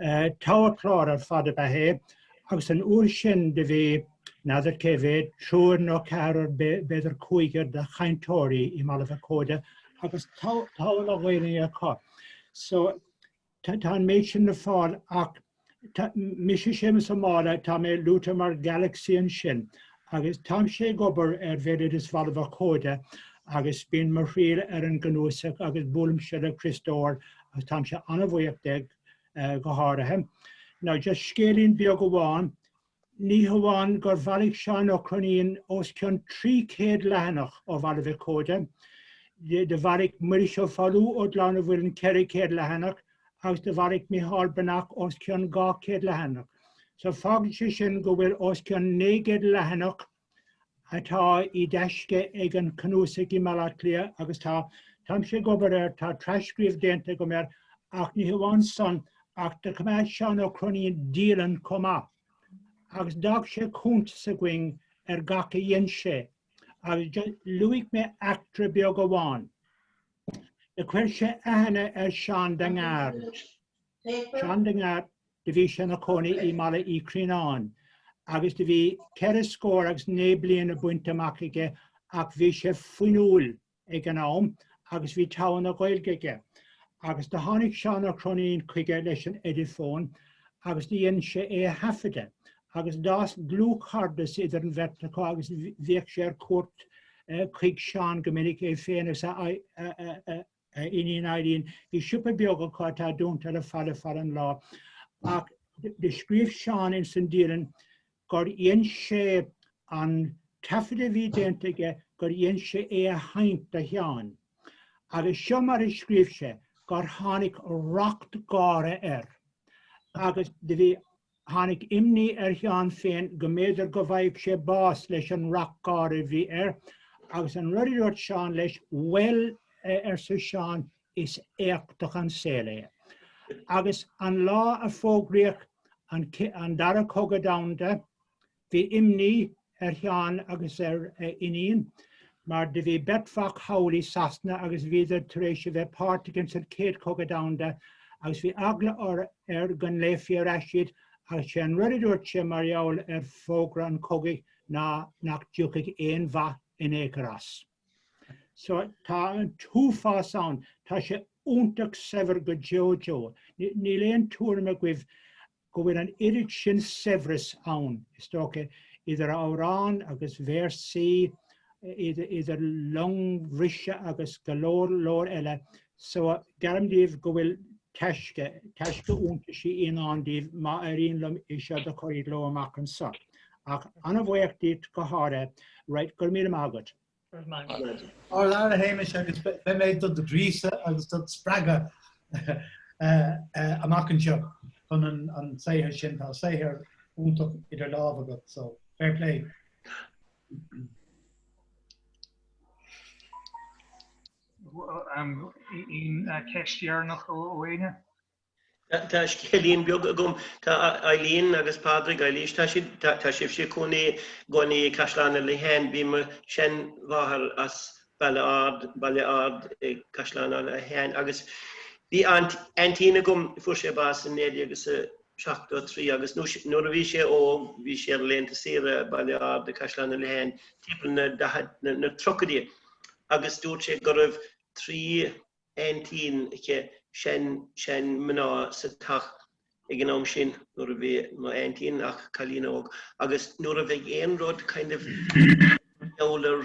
Togha cláir ar fad ab ea é agus an uair sin do bhí, n'fheadar cé mhéad, triúr nó ceathrar, b'fhéidir cúigear, de chainteoirí i mBaile-Mhac-Óide agus togha na Gaolainne acu. So, tá an méid sin le fáil ach, mise Séamus Ó Máille, tá mé luaite mar Galaxy ansin Agus táimse ag obair ar bhéaloideas Bhaile Mhac Óda agus bíonn mo thriall ar an gcnuasach agus buailimse le Criostóir agus táimse an-bhuíoch de, go háirithe. Now just scéilín beag amháin, ní hamháin gur bhailigh Seán Ó Cróinín os cionn 300 leathanach ó Bhaile Mhac Óda, do bhailigh Muiris Ó Foghlú ó Ghleann an Mhuilinn 400 leathanach, agus do bhailigh Micheál Breathnach os cionn 200 leathanach. So fágann sé sin go bhfuil os cionn 900 leathanach atá i dtaisce ag an cnuasaigh i mBaile Átha Cliath agus tá táimse ag obair air, tá tras-scríobh déanta agam air ach ní hamháin san ach do choimeád Seán Ó Cróinín dialann chomh maith agus d'fhág sé cuntas againn ar gach a dhein sé agus luafaidh mé eachtra beag amháin. Do chuir sé aithne ar Seán de Ngar. Seán de Ngar do bhí sé ina chónaí i mBaile Uí Chrianáin agus do bhí ceithre scór agus naoi mbliana bainte amach aige ach bhí sé fuinniúil ag an am agus bhí togha na Gaeilge aige. Agus do tháinig Seán Ó Cróinín chuige leis an Eidifón agus do dhein sé é a thaifeadadh agus d'fhás dlúthchairdeas idir an bheirt acu agus bhíodh sé ar cuairt chuig Seán go minic, é féin is a iníon, Eileen. Bhí siopa beag acu atá dúnta le fada fada an lá. Ach do scríobh Seán insan dialann gur dhein sé an taifead a bhí déanta aige gur dhein sé é a sheinnt do Sheán. Agus seo mar a scríobh sé gur tháinig racht gáire air. Agus do bhí tháinig imní ar Sheán féin go mb'fhéidir go bhfaigheadh sé bás leis an racht gáire a bhí air, agus an rud a dúirt Seán leis, 'Bhuel, arsa Seán, 'is éachtach an saol é. Agus an lá a fógraíodh an Dara Cogadh Domhanda, Bhí imní ar Sheán agus ar a iníon mar do bhí beirt mhac thall i Sasana agus bhíodar tar éis a bheith páirteach ins an Céad Chogadh Domhanda agus bhí eagla orthu go nglaofaí ar ais iad agus sé an rud a dúirt sé mar gheall ar fógra an chogaidh ná nach dtiocfaidh aon mhaith in aon chor as. So tá an t-uafás ann. Tá sé iontach saibhir go deo deo. Níl aon tuairim agaibh go bhfuil an oiread sin saibhreas ann, is dócha, idir amhráin agus véarsaí, idir longbhriseadh agus go leor leor eile, so geallaim daoibh go bhfuil taisce, taisce iontaisí i ndán daoibh má éiríonn liom é seo do chur i gcló amach anseo. Ach ana-bhuíoch díot go háirithe, right, go raibh míle maith agat. Ar fheabhas a Shéamais agus beidh mé do do ghríosadh agus do do spreagadh amach anseo chun an saothar sin. Tá saothar iontach idir lámh agat so fair play. Aon cheist dheireanach ó éinne? Tá scéilín beag agam. Tá Eileen agus Pádraig Eilís, tá sibhse i gcónaí i gcónaí i Caisleán Uí Liatháin. Bhí mo sheanmháthair as Baile Ard, Baile Ard i gCaisleán Uí Liatháin. Agus bhí aint, aintín agam, fuair sé bás i 1973 agus nó, nuair a bhí sé óg, bhí sí ar laethanta saoire i Baile Ard i Caisleán Uí Liatháin timpeall na 30idí. Agus dúirt sé go raibh trí. aintín aici, sean, sean, mná sa teach ag an am sin nuair a bhí mo aintín ach cailín óg agus nuair a bheadh aon rud kind of you know ar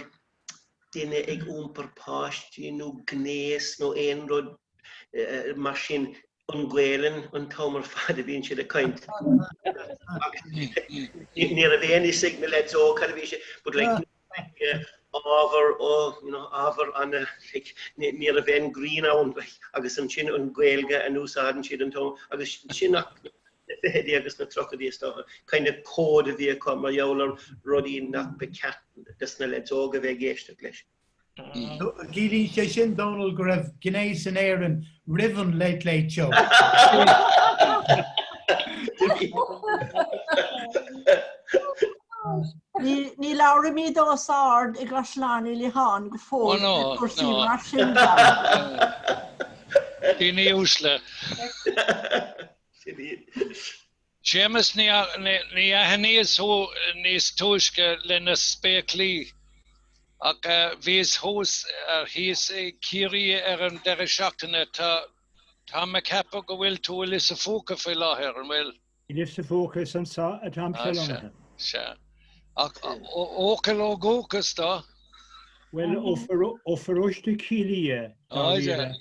duine ag iompar páistí nó gnéas nó aon rud mar sin an Gaelainn an t-am ar fad a bhíonn siad ag caint ní raibh aon fhios ag na leaids óg cad a bhí sé but like ábhar ó you know ábhar an like ní raibh aon greann ann like agus ansin an Gaeilge a n-úsáideann siad an t-am agus sin sna ficheadaí agus na tríochaidí is dócha kind of cód a bhí acu mar gheall ar rudaí nach ba ceart do sna leaids óg a bheith ag éisteacht leis. Ciallaíonn sé sin, Dónall, go raibh gnéas in Éirinn roimh an Late Late Show. Ní labhraímid os ard i gCaisleán Uí Liatháin go fóill ar cúrsaí mar sin, Dónall. Daoine uaisle. Séamus, Níor aithníos thú níos túisce leis na spéaclaí ach bhíos thuas, thíos i Ciarraidhe ar an deireadh seachtaine. Tá, táim a' ceapadh go bhfuil tú i Lios a' Phúca faoi láthair, an bhfuil? I Lios a' Phúca, is ansa atáimse lonnaithe. Sea, sea. Ach Eochaill ó dhúchas do? Bhuel, ó pharóiste Chill Ia, dáiríre.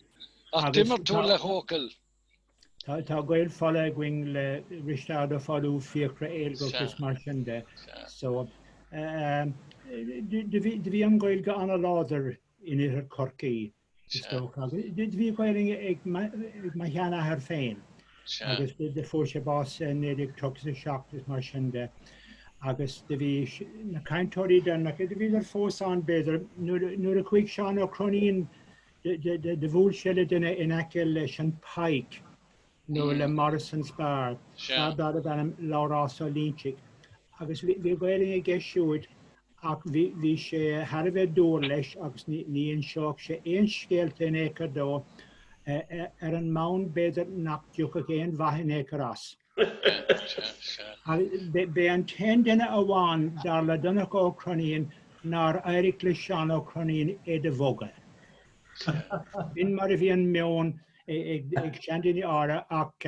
Ach d'imir tú le hEochaill? Tá gaol fola againn le Risteárd Ó Follú, Fiachra Éilgeach is mar sin de. So do bhí an Ghaeilge an-láidir in oirthear Chorcaí, is dócha. Do bhí Gaelainn ag mo sheanathair féin agus do fuair sé bás i 1937 is mar sin de. Agus do bhí na cainteoirí deireanacha, do bhíodar fós ann b'fhéidir, nuair a chuaigh Seán Ó Croinín Do bhuail sé le duine in aice leis an Pike nó le Morrison's Bar, fear darbh ainm Labhrás Ó Loinsigh, agus bhí Gaelainn aige siúd ach bhí sé thar a bheith dúr leis agus ní inseodh sé aon scéalta in ao'cor dó, ar an mbonn b'fhéidir nach dtiocfadh aon mhaith in ao'cor as. B'é an t-aon duine amháin, dar le Donncha Ó Croinín, nár éirigh le Seán Ó Croinín é do bhogadh. B'in mar a bhí an meon ag seandaoine áirithe ach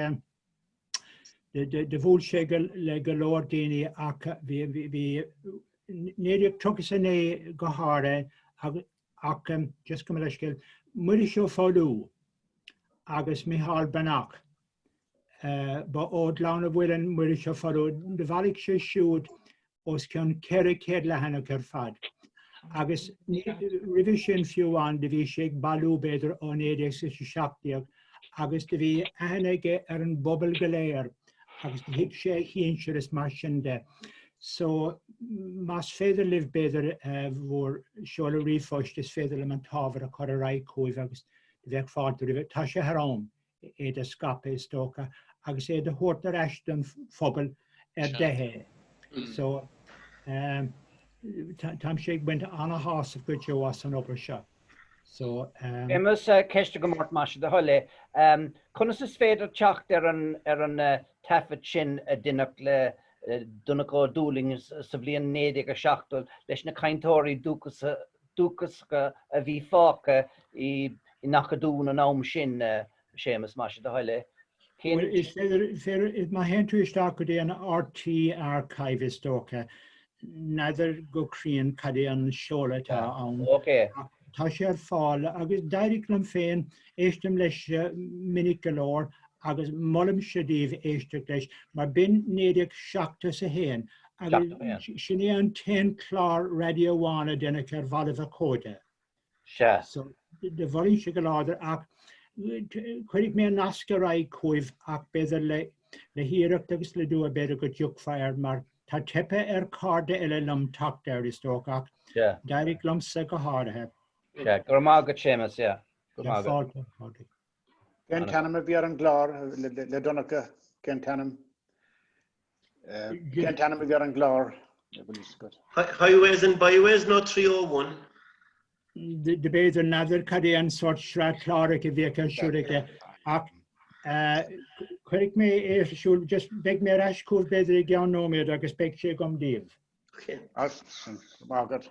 do bhuail sé le go leor daoine i 1939 go háirithe ach just gabh mo leithscéal, Muiris Ó Foghlú agus Micheál Breathnach. Ba ó Ghleann a' Mhuilinn, Muiris Ó Foghlú, do bhailigh sé siúd os cionn 400 leathanach ar fad. Agus roimhe sin fiú amháin do bhí sé ag bailiú b'fhéidir ó 1917 agus do bhí aithne aige ar an bpobal go léir agus do thuig sé a shinsir is mar sin de. So más féidir libh b'fhéidir bhur seoladh ríomhphoist is féidir liom an t-ábhar a chur ar aghaidh chugaibh agus do bheadh fáilte roimhe. Tá sé thar am. é do scaipeadh is dócha agus é do thabhairt ar ais don phobal ar de é. So táimse ag baint an-shásamh go deo as an obair seo. Tuilleadh ceisteanna go Máirt más é do thoil é. Conas is féidir teacht ar an taifead sin a deineadh le Donncha Ó Dúlaing sa bhliain 1970 leis na cainteoirí dúchasacha dúchasach a bhí fágtha nach dtuigeann an am sin, Séamus, más é do thoil é. Cén. Bhuel, má théann tú isteach go dtí an RTÉ Archive is dócha, n'fheadar go cruinn cad é an seoladh atá ann. Ok. Ach tá sé ar fáil agus d'éirigh liom féin, éistim leis minic go leor agus molaimse daoibh éisteacht leis mar b'in 1971 Sin é an t-aon clár raidió amháin a déanadh ar Bhaile Mhac Óda. Sea. So, do mholfainnse go láidir ach cuirfidh mé an nasc ar aghaidh chugaibh ach b'fhéidir le le hiarracht agus le dua b'fhéidir go dtiocfá air mar tá teipthe ar chairde eile liom teacht air is dócha ach d'éirigh liomsa go háirithe. Sea, go raibh maith agat Séamus, yeah. Go maith agat. Go fóill, go fóill. Cén t-ainm a bhí ar an gclár le Donncha? Cén t-ainm? Cén t-ainm a bhí ar an gclár? Highways and Byways nó 301? Do b'fhéidir n'fheadar cad é an sórt sraith cláracha a bhí aici ar siúl aici ach cuirfidh mé é ar siúl, just beidh mé ar ais chugaibh b'fhéidir i gceann nóiméad agus beidh sé agam daoibh. As sin. Go raibh maith agat.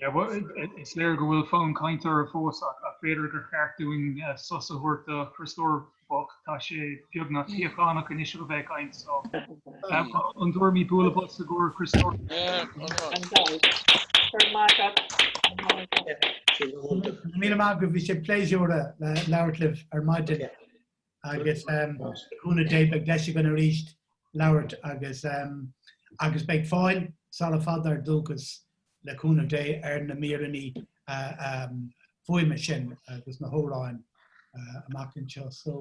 Is léir go bhfuil fonn cainte orthu fós ach b'fhéidir gur cheart dúinn sos a thabhairt do Chriostoir bocht. Tá sé beagnach tnáite anois ag a bheith ag caint so. An dtabharfaimid bualadh bos i gcomhair Chriostoir? An dóigh. Go raibh maith agat an mhóin seo. Míle maith agaibh, bhí sé pléisiúr labhairt libh ar maidin. agus cúnamh Dé beidh deis againn arís labhairt agus agus beidh fáil sara fada ar dúchas le cúnamh Dé ar na míreanna fuaime sin agus na hamhráin amach anseo. So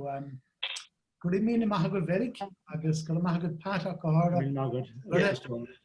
go raibh míle maith agat Mheirig agus go raibh maith agat Pat ach go háirithe. Míle maith agat.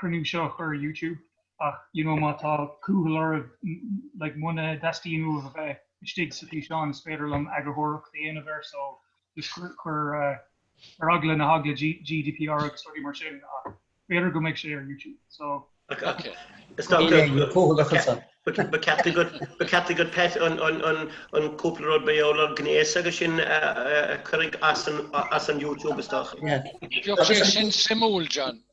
cruinniú seo a chur ar YouTube ach you know má tá cúthail oraibh like muna dteastaíonn uaibh a bheith istigh sa físeán is féidir liom eagarthóireacht a dhéanamh air so just ar eagla na heagla GDPR agus rudaí mar sin ach b'fhéidir go mbeidh sé ar YouTube so Ok. Is dócha. Níl aon chumhdachas ann. Ba ceart agat ba ceart agat Pat an an an an cúpla rud faoin ngnéas agus sin a a a cuireadh as an as an YouTube is dócha. Bheadh sé sin suimiúil John.